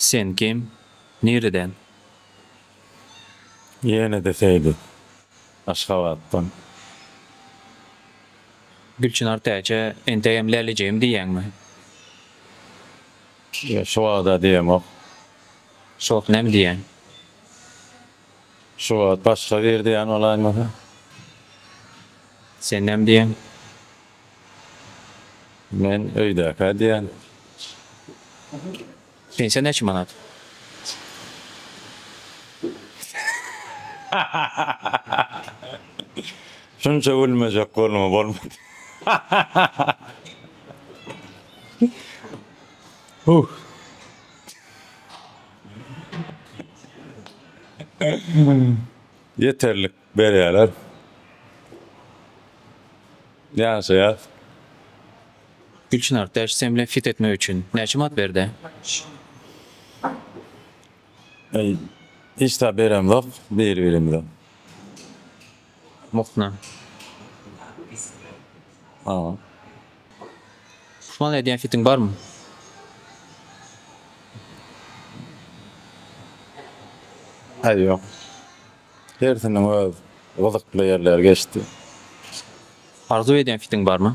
Sen kim? Nireden? Ýene-de Seýdi. Aşgabatdan. Gülçynar täçe, entegem Lälijegim diýýäňmi? Ýok şu wagta diýemok. Şu wagt näme diýýän? Şu wagt başga bir diýýän bolaýmasa. Sen näme diýýän? Men öýdäkä diýýän. Pensiýa näçe manat? Şunça gülmejek bolma bolmady. Ýeterlik berýärler. Ýaşaýas. Gülçynar, täş sen bilen fit etmek üçin näçe manat berdi? Hiç zat beremzok biri-birimize. Mukna. Aw. Puşman edýän hitiň barmy? Häzir ýok. Hersiniň öz gyzykly ýerleri geçdi. Arzuw edýän hitiň barmy?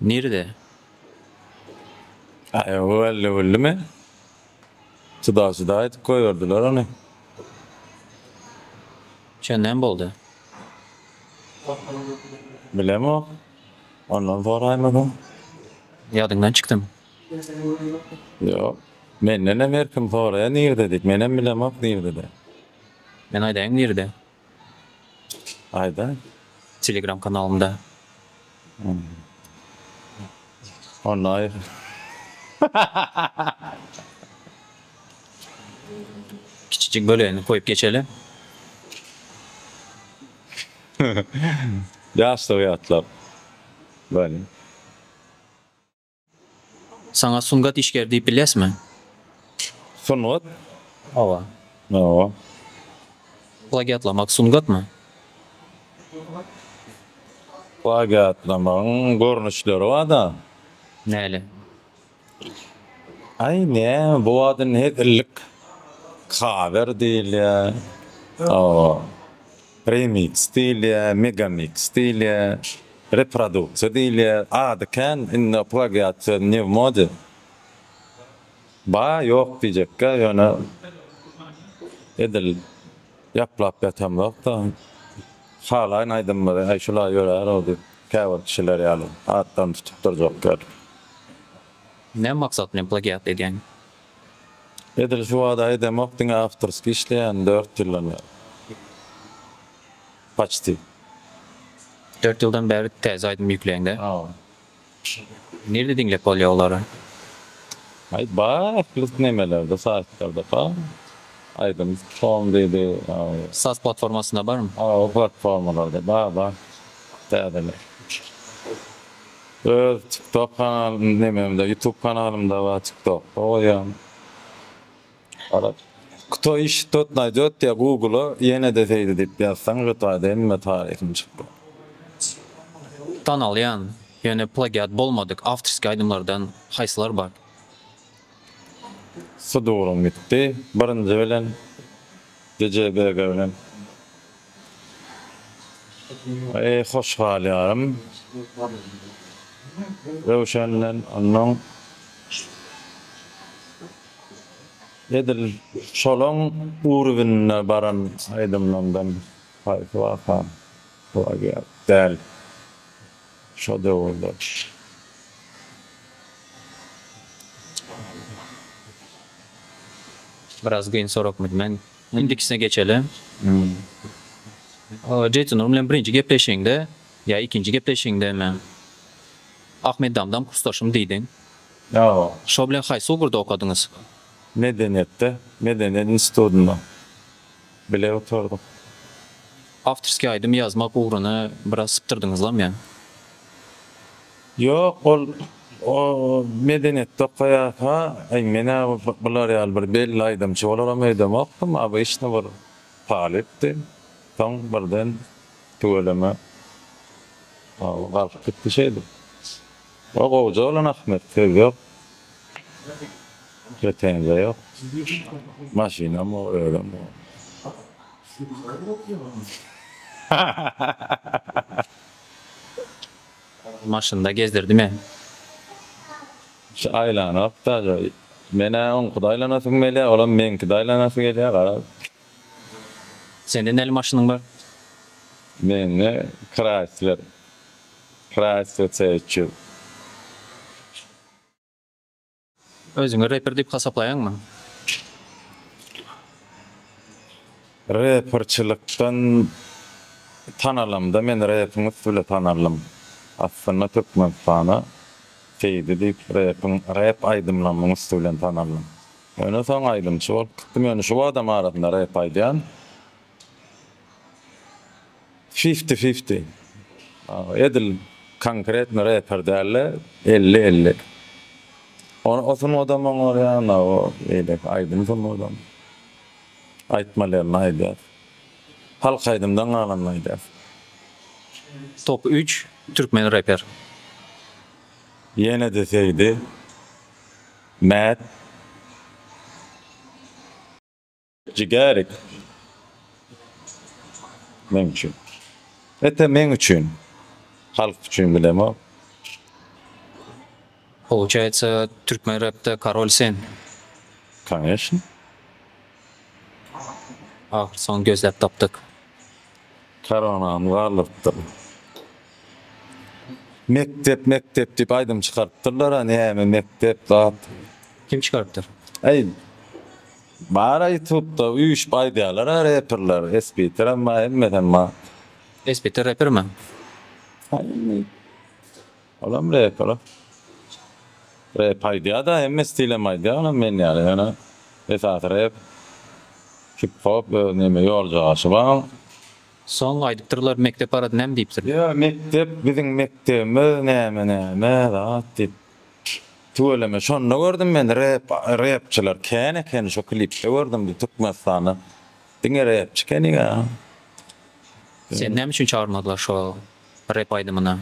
Nirede? Aýagy öldümi? Juda-juda edip goýberdiler ony. Şondan boldy. Bilemok. Ondan soraýmasam. Ýadyňdan çykdymy? Ýok. Mendenem her kim soraýar nirede diýip. Menem bilemok nirede. Men aýdaýyn nirede. Aýda. Telegram kanalynda. Onlaýn. Kiçijik bölegini goýup geçeli. Ýaşlygy ýatlap. Bäli. Saňa sungat işgeri diýip bilýäsmi? Sungat? Hawa. Hawa. Plagiatlamak sungatmy? Plagiatlamagyň görnüşleri bar-da. Näle? Aý, ne, bu wagt indi hezillik kawer diýilýär, hawa, remiks diýilýär, megamiks diýilýär. Reproduksiýa diýilýär. Ady kän indi plagiat söz ne w mode. Bar ýok diýjekkä ýöne edil ýaplap ýatamzok-da. Halaýyn aýdymlary äý şulaý ýörär-ow diýip käbir kişiler ýaly atdan tutup durjak däl. Näme maksat bilen plagiat edýäň? Edil şu bada edemok diňe awtorskiý işleýän dört ýyldan bäri. Paçti. Dört ýyldan bäri täze aýdym ýükleýiňdä. Nirde diňläp bolýa olary? Aý bar ähli nemelerde saýtlarda bar aýdym com diýdi. Saz platformasynda barmy? Hawa platformalarda bar bar täzeler. Öz tiktok kanalym nememde ýutub kanalymda bar tiktokda goýýan. Garaz. Kto iş, tot naýdýot diýýär, Google-a ýene-de seýde diýip ýazsaň, şu taýda hemme taryhyň çykýar. Tanalýan, ýöne plagiat bolmadyk awtorskiý aýdymlardan haýsylar bar? Sudurum gitdi. Birinji bilen DJ BG bilen. Eý, hoş galýarym. Röwşen bilen onuň edil şolaň urwinde baran aýdymlaryndan haýsy waka plagiat däl? Şo döwürde. Biraz kyn soragmydy men. Indikisine geçeli. Jeýson Nurm bilen birinji gepleşigiňde ýa ikinji gepleşigiňdemi Ahmeddamdan kursdaşym diýdiň. Ýa. Şo bilen haýsy ugurda okadyňyz? Medeniýetde, Medeniýet institutynda bile otardyk. Awtorskiý aýdym ýazmak ugruny biraz sypdyrdyňyzlam ýa? Ýok ol o medeniýetde okaýarka aý menä bular ýaly bir belli aýdymçy bolaram öýdemokdym obyçny bir talypdy soň birden tüweleme galyp gitdi şeýdip o gowja oglan ahmet söz ýok pretenziýa ýok maşynam o özem o hahahaha. Maşynda gezdirdi men. Şu aýlanok dagy. Men-ä oňkida aýlanasym gelýär, olam meňkide aýlanasy gelýär, garaz. Sende näli maşynyň bar? Mende Chrysler. Chrysler C üç ýüz. Özüňi reper diýip hasaplaýaňmy? Reperçilikden tanalamda men repiň üsti bile tanaldym. Aslynda Türkmenistana Seýdi diýip repiň rep aýdymlamyň üsti bilen tanaldym. Ýöne soň aýdymçy bolup gitdim. Ýöne şu badam arasynda rep aýdýan. Fifti fifti. Edil konkretno reper dälde elli elli. O sungadam oňar ýagny o beýleki aýdym sungadam. Aýtmalyny aýdýar. Halk aýdymdan galanyny aýdýar. Top üç türkmen reper. Ýene-de Seýdi. Mät. Jigerik. Meň üçin. Ete meň üçin. Halk üçin bilemok. Pouçaýtsa türkmen repde karol sen. Koneşn. Ahyr soň gözläp tapdyk. Karonam galdyrypdyr. Mekdep mekdep diýip aýdym çykarypdyrlar a näme mekdep zat. Kim çykarypdyr? Aý. Bara ýutubda üýşüp aýdýalara reperler espiterem bar hemmesem bar. Espiter reper mi? Indi olam reper. Rep aýdýada hemme stilem aýdýa olam men ýaly ýöne esasy rep hip hop öz neme ýoljaşy bar. Soň aýdypdyrlar mekdep barada näme diýipdir. Ýa mekdep biziň mekdebimiz näme näme zat diýip Tüweleme şonda gördüm men rep repçiler kän ekeni şo klipde gördüm bu Türkmenistanda diňe repçi keniga. Seni näme üçin çagyrmadylar şo rep aýdymyna?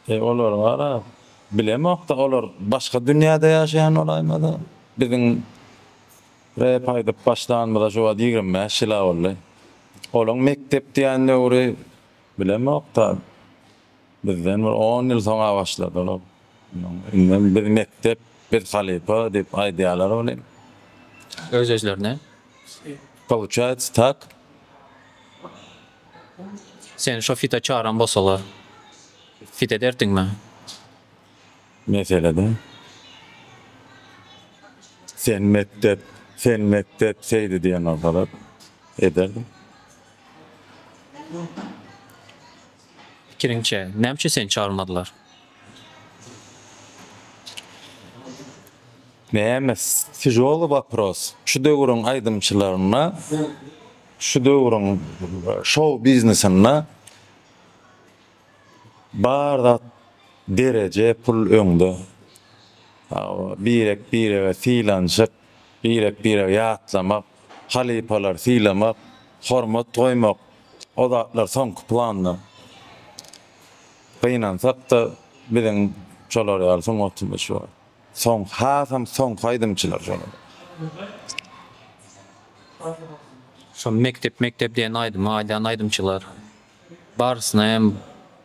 E olary gara bilemokda olar başga dünýäde ýaşaýan bolaýmada biziň rep aýdyp başlanymyza şu wagt ýigrimi bäş ýyla boldy olaň mekdep diýen döwri bilemokda. Bizden bir on ýyl soň-a başladylar. Indem biz mekdep, biz halypa diýip aýdýalar welin. Öz-özlerine. Pouçaýts tak. Seni şo fita çaran bolsalar, fit ederdiňmi? Meselede. Sen mekdep, sen mekdep seýdi diýen bolsalar, ederdim. Pikiriňçe, näme üçin seni çagyrmadylar? Nemes, Tižoly wopros. Şu döwrüň aýdymçylaryna, şu döwrüň şou biznesinde bar zat dereje, pul öňde. Birek birege sylanşyk, birek birege ýatlamak, halypalary sylamak, hormat goýmak. O zatlar soňky planda. Gynansak-da, biziň şolar ýaly sungatymyz şu. Soňky, hasam soňky aýdymçylar şolar. Şo Mekdep mekdep diýen aýdymy aýdan aýdymçylar barysyna hem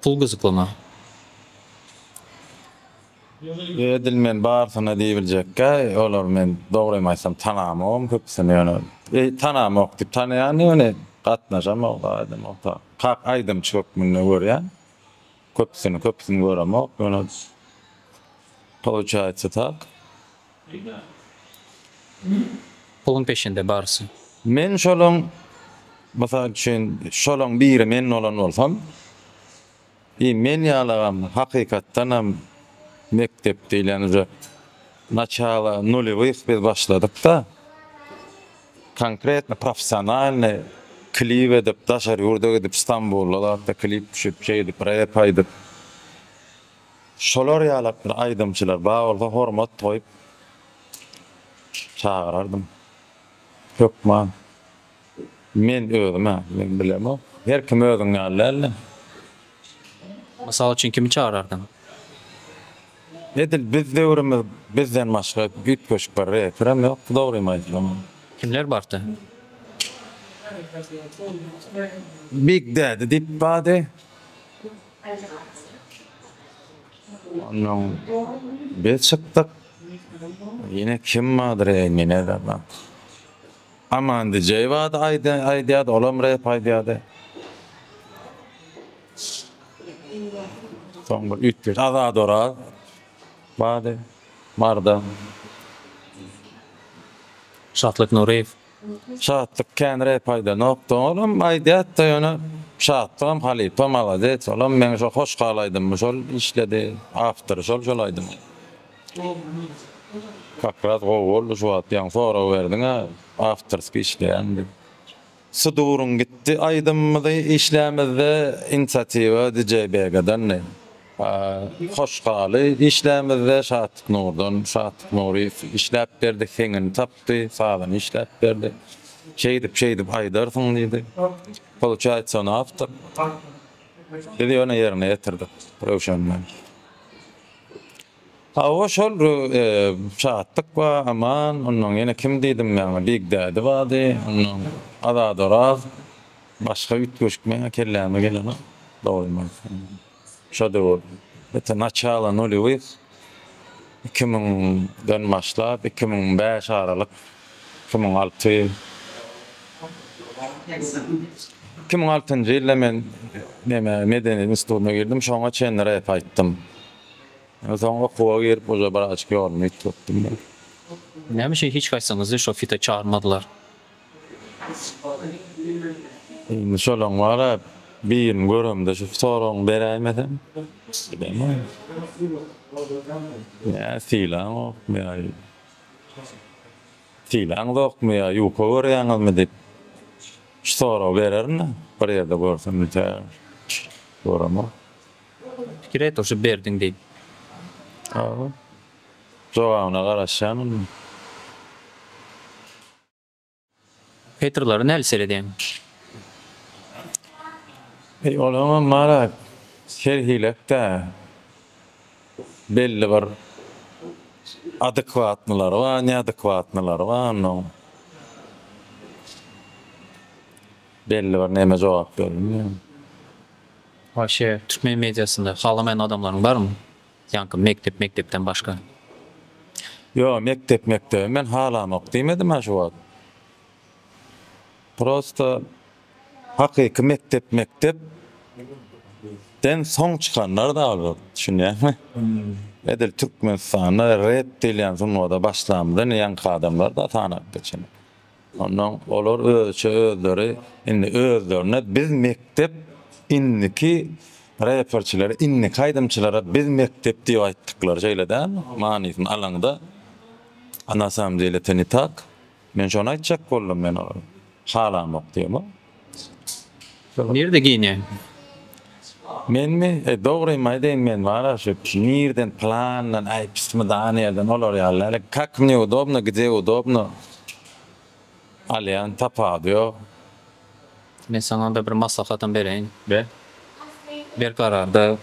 pul gyzyklymy? Ýöne edil men barysyna diýibiljekkä olary men dogrymy aýtsam tanamogam köpüsini ýöne tanamok diýip tanaýan ýöne gatnaşamok aýdamokda kak aýdymçy hökmünde görýän köpüsini köpüsini göremok ýöne pouçaýsa tak. Puluň peşinde barysy. Men şolaň mysal üçin şolaň biri men bolan bolsam Iý men ýalagam hakykatdanam mekdep diýlen uje naçalo nulewih biz başladykda konkretno professionalny klip edip daşary ýurda gidip stambulda zatda klip düşüp şeýdip rep aýdyp şolar ýalak bir aýdymçylar bar bolsa hormat goýup çagyrardym hökman. Men özüm-ä, men bilemok. Her kim özüň ýaly däl-de. Mysal üçin kimi çagyrardyň? Edil biz döwrümiz bizden başga üýtgeşik bir reperem ýokdy dogrymy aýtsam. Kimler bardy? Big Daddy diýip bardy. Ondan biz çykdyk. Ýene kim bardyr-eý, men edemem. Amandyjeýewada aýdýady olam rep aýdýady. Soň bir üýtgeşik Azadoraz bardy barda. Şatlyk Nuryýew. Şatlyk kän rep aýdanokdy olam aýdýatdy ýöne Şatlygam halypa malades olam meň şo hoşhal aýdymmy şol işledi awtory şol şol aýdymy. Kakras gowy boldy şu wagt ýaňy sorag berdiňä awtorskiý işleýän diýip. Suduryň gitdi aýdymymyzy işlämizde inisiatiwa DJ Begadandi. Hoş haly işlämizde Şatlyk Nurdan, Şatlyk Nuryýew işläp berdi, heňini tapdy, sazyny işläp berdi. Şeýdip şeýdip aýdarsyň diýdi. Pouçaýtsa ony awtor. Biz ýöne ýerine ýetirdik Röwşen bilen. Hawa şol Şatlyk ba Aman onnoň ýene kim diýdim men Bigdädi bady onnoň Azadoraz başga üýtgeşik meň kelläme gelenok dogrymy aýtsam şo döwür ete naçalo nulýewih iki müňden başlap iki müň bäş aralyk Iki müň alty iki müň altynjy ýylda men neme medeniýet institutyna girdim, şoňa çenli rep aýtdym. Soň okuwa girip uje bir açk ýolumy ýitgetdim men. Näme üçin hiç haýsyňyzy şo fite çagyrmadylar? Indi şolaň bar-a, birini göremde şu soragyňy beräýmesem, bilemok. Nä sylaňok, nä sylaňyzokmy ýa ýuka görýäňizmi diýip şu soragy bererin-de, bir ýerde görsem tä göremok. Pikir et oşa berdiň diýip. Hawa. Jogabyna garaşýan onda. Petrlary nädip seredýäň? Eý olaňam bara serhilek-dä. Belli bir adekwatnylary bar, neadekwatnylary bar onuň. Belli bir neme jogap berilmeýär. Waşe türkmen mediasynda halamaýan adamlaryň barmy? Ýaňky mekdep mekdepden başga. Ýo mekdep mekdebi men halamok diýmedimä şu wagt. Prosta hakyky mekdep mekdep den soň çykanlarda albat düşünýäňmi. Edil Türkmenistanda rep diýilýän sungada başlamda indi ýaňky adamlar da sanap geçen. Ondan olar özüçe özleri indi özlerine biz mekdep indiki reperçilere indiki aýdymçylara biz mekdep diýip aýtdyklary şeýle dälmi manysyny alaňda a na samom dele to ne tak men şony aýtjak boldum men olara halamok diýemok. Nirde geýinýäň? Menmi? E, dogrymy aýdaýyn, men wara şu nirden, plandan, aý, pismydany ýerden, olar ýaly däl, kak mne udobno, gde udobno alýan, tapawudy ýok. Men saňa onda bir maslahatym bereýin. Ber. Berkararda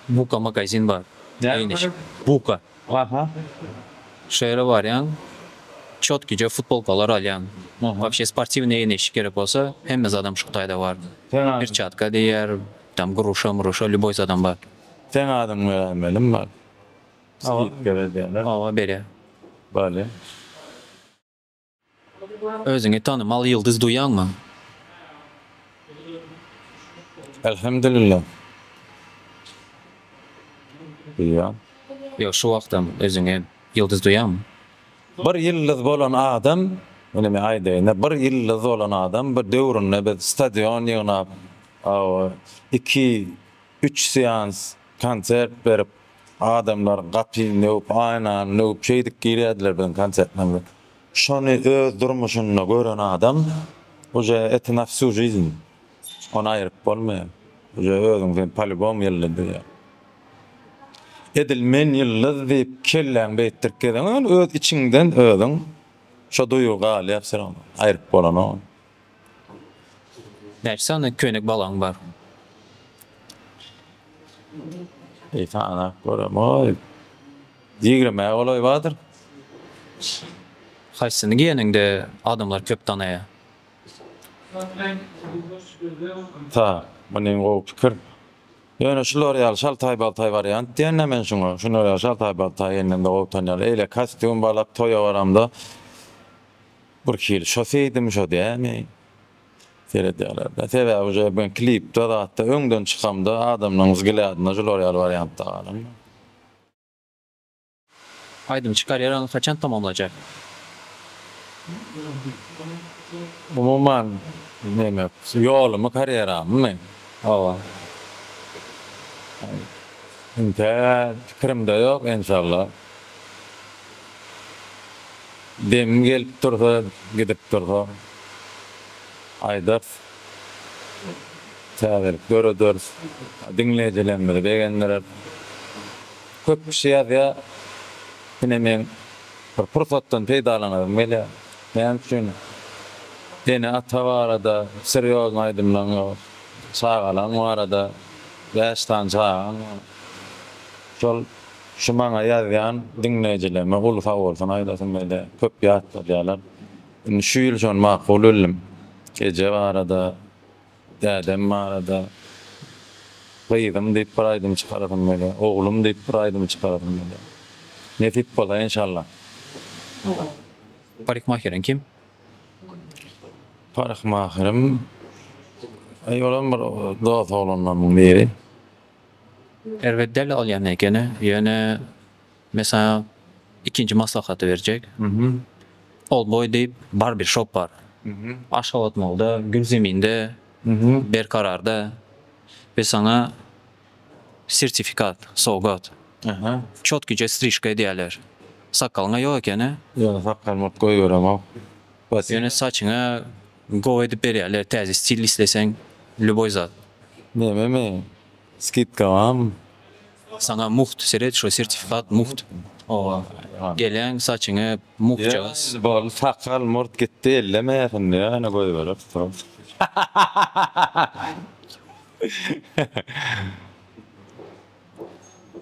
Buka magazin bar. Näme bar? Buka. Aha şeýle barýan çotkyja futbolkalar alýan wapşe sportiwnyý ýene iş gerek bolsa hemme zadam şu hytaýda bar pirçatka diýýär tam gruşa mruşa lýuboý zadam bar. Seň adyňy berän belim bar skidka berýäler. Oba berýär. Bary. Özüňi tanymal ýyldyz duýýaňmy? Elhemdülillah. Duýýan. Ýok, şu wagtam özüňi ýyldyz duýýaňmy? Bir ýyldyz bolan adam, indi men aýdaýyn-da, bir ýyldyz bolan adam, bir döwründe biz stadion ýygnap, iki, üç seans, Konsert berip adamlar gapyny döwüp aýnany döwüp şeýdip girýärdiler biziň konsertimize. Şony öz durmuşynda gören adam uje et na wsyu žizn ony aýryp bolmaýar uje özüň sen polibom ýyldy diýýär. Edil men ýyldyz diýip kelläň beýtdirip gezeňem öz içiňden özüň şo duýgy galýar syryň aýryp bolanok ony. Näçe sany köýnek balaň bar? Bir sanap göremok. Ýigrimäge golaý bardyr. Haýsyny geýeniňde adamlar köp tanaýar? Sag, muny gowy pikir. Ýöne şular ýaly şaltaý-baltaý wariant diýen-dä men şuňa. Şular ýaly şaltaý-baltaý elinde gowy tanýarlar. Eýle kostýum balak toýa baramda. Bir hili şo seýdimi şo dämi seredýärler-dä. Sebäbi uje men klipde zatda öňden çykamda adamlaryň wzglýadyna jular ýaly wariantda galamda. Aýdymçy karýeraňy haçan tamamlajak? Umuman neme ýolumy karýeramymy? Hawa. Entä pikirimde ýok enşalla. Demim gelip dursa, gidip dursa aýdarys. Täzelik dörederis. Diňleýjilerimizi begendireris. Köp kişi ýazýar. Ine meň bir pursatdan peýdalanasym gelýär. Näme üçin ene-ata barada serýozny aýdymlaň ýok? Çagalaň barada, bäş sany çagaň bar. Şol Şu maňa ýazýan diňleýjilerime uly sagbolsun aýdasym gelýär. Köp ýat salýarlar. Indi şu ýyl şony makul bildim. Eje barada, dädem barada, gyzym diýip bir aýdym çykarasym gelýär. Oglum diýip bir aýdym çykarasym gelýär. Nesip bolsa enşallah. Parykmaheriň kim? Parykmaherim, eý olam bir dos oglanlarymyň biri. Erbet däl ol ýagny ekeni. Ýöne men saňa ikinji maslahaty berjek. Oldboý diýip barber shop bar. Aşgabatmolda, Gülzeminde, Berkararda. Biz saňa sertifikat sowgat. Çotkyja strişka edýärler. Sakgalyň-a ýok ekeni. Ýöne sakgalymyrt goýberemok. Ýöne saçyňa Gowy edip berýärler täze stil isleseň lýuboý zat. Nememi? Skidka barmy? Saňa mugt seret şu sertifikat mugt oba gelen saçyňy mugtjagaz. Ýa boldy sakal murt gitdi elleme indi ýöne goýbereris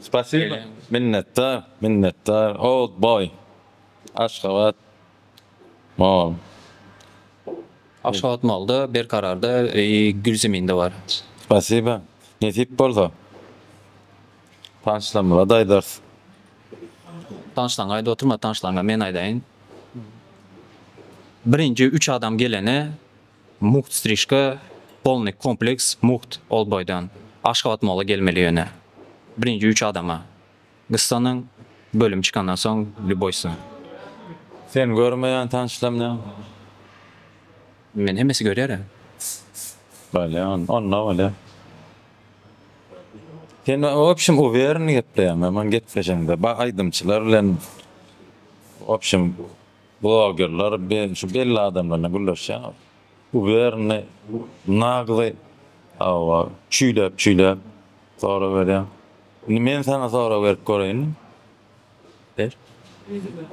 Spasiba minnetdar minnetdar old boy Aşgabat. Aşgabat malda, berkararda, gül zeminde bar. Spasiba. Nesip bolsa, tanşlarymyza-da aýdarys. Tanşlaryňa aýdyp oturma, tanşlaryňa men aýdaýyn. Birinji üç adam gelene mugt strişka, polnyý kompleks, mugt ol boýdan. Aşgabat mala gelmeli ýöne. Birinji üç adama. Gyssanyň bölümi çykandan soň Lýuboýsa. Sen görmeýän tanyşlarymda meni hemmesi görýär-ä. Bolýa onda, onda bolýa. Sen wobşem uwereni gepleýäň ýaman gepleşeňde ba aýdymçylar bilen wobşem blogerler be şu belli adamlar bilen gürleşýäň uwereni nagly hawa çüýläp çüýläp soraberýäň. Indi men saňa sorag berip göreýinmi? Ber.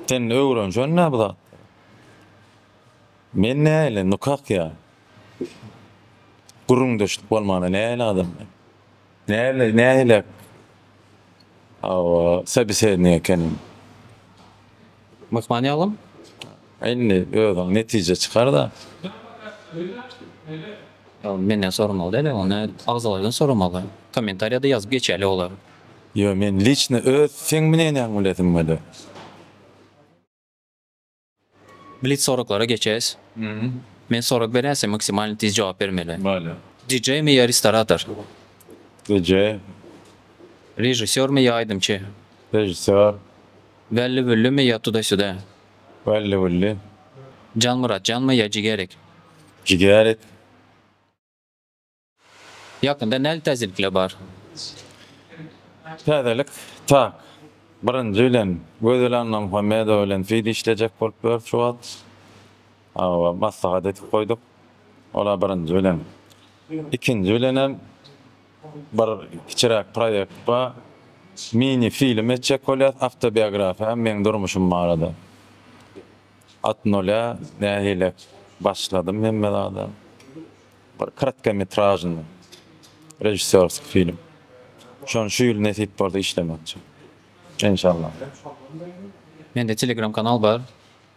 Sen öwrenşen-dä bu zatlary. Men nähili, nukak ýa? Gürrüňdeşlik bolmanda nähili adam men? Nähili, nähili, hawa, sobesednik ekeniň? Myhman ýalym, indi özüň netije çykar-da. Ýalym, menden soramaly däl-ä, onda agzalarydan soramaly. Kommentariýa-da ýazyp geçäýeli olar. Ýo, men liçno öz seň münenäňi bilesim gelýär. Blitz soraglara geçäýs. Men sorag berýän, sen maksimalny tiz jogap bermeli. Bolýar. DJ-mi ýa restorator? DJ. Režissýormy ýa aýdymçy? Režissýor. Wälli wülli mi ýa tudaşyda. Wälli wülli. Jan-Myrat janmy ýa jigerik. Jigerik. Ýakynda näli täzelikler bar. Täzelik tak. Birinji bilen Gözel Annamuhammedowa bilen fid işlejek bolup ýörüs şu wagt. Hawa, maslahat edip goýduk. Ol-a birinji bilen. Ikinji bilenem. Bir kiçiräk proýekt bar. Mini film etjek bolýas, awtobiografiýa, meň durmuşym barada. At nulýa nähili başladym hemme zada. Bir kratkometražnyý režissýorskiý film. Şony şu ýyl nesip bolsa işlemekçi. Enşallah. Mende telegram kanal bar.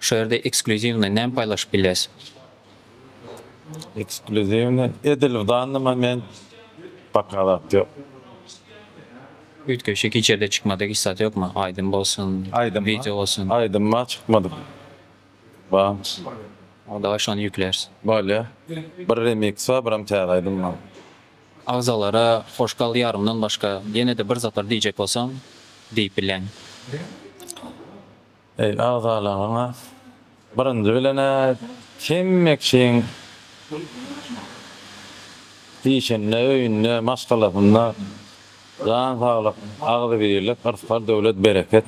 Şu ýerde eksklýuziwny näme paýlaşyp bilýäs? Eksklýuziwny edil w danny moment baka zat ýok. Üýtgeşik hiç ýerde çykmadyk hiç zat ýokmy? Aýdym bolsun, wideo bolsun. Aýdym bar çykmadyk bar. Dawaý şony ýükläris. Bolýa. Bir remix bar biram täze aýdym bar. Agzalara hoş gal ýarymdan başga ýenede bir zatlar diýjek bolsaň diýip bilýän. Eý, agzalaryňa, birinji bilen-ä hemme kişiň işinde, öýünde, maşgalasynda jan saglyk, agzybirlik, yrsgal-döwlet, bereket,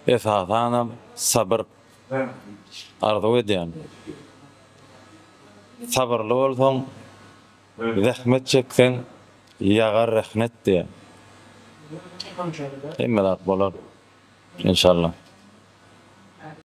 esasanam sabyr arzuw edýän. Sabyrly bolsaň. Zähmet çekseň ýagar rehnet diýen. Hemme zat bolar inşallah.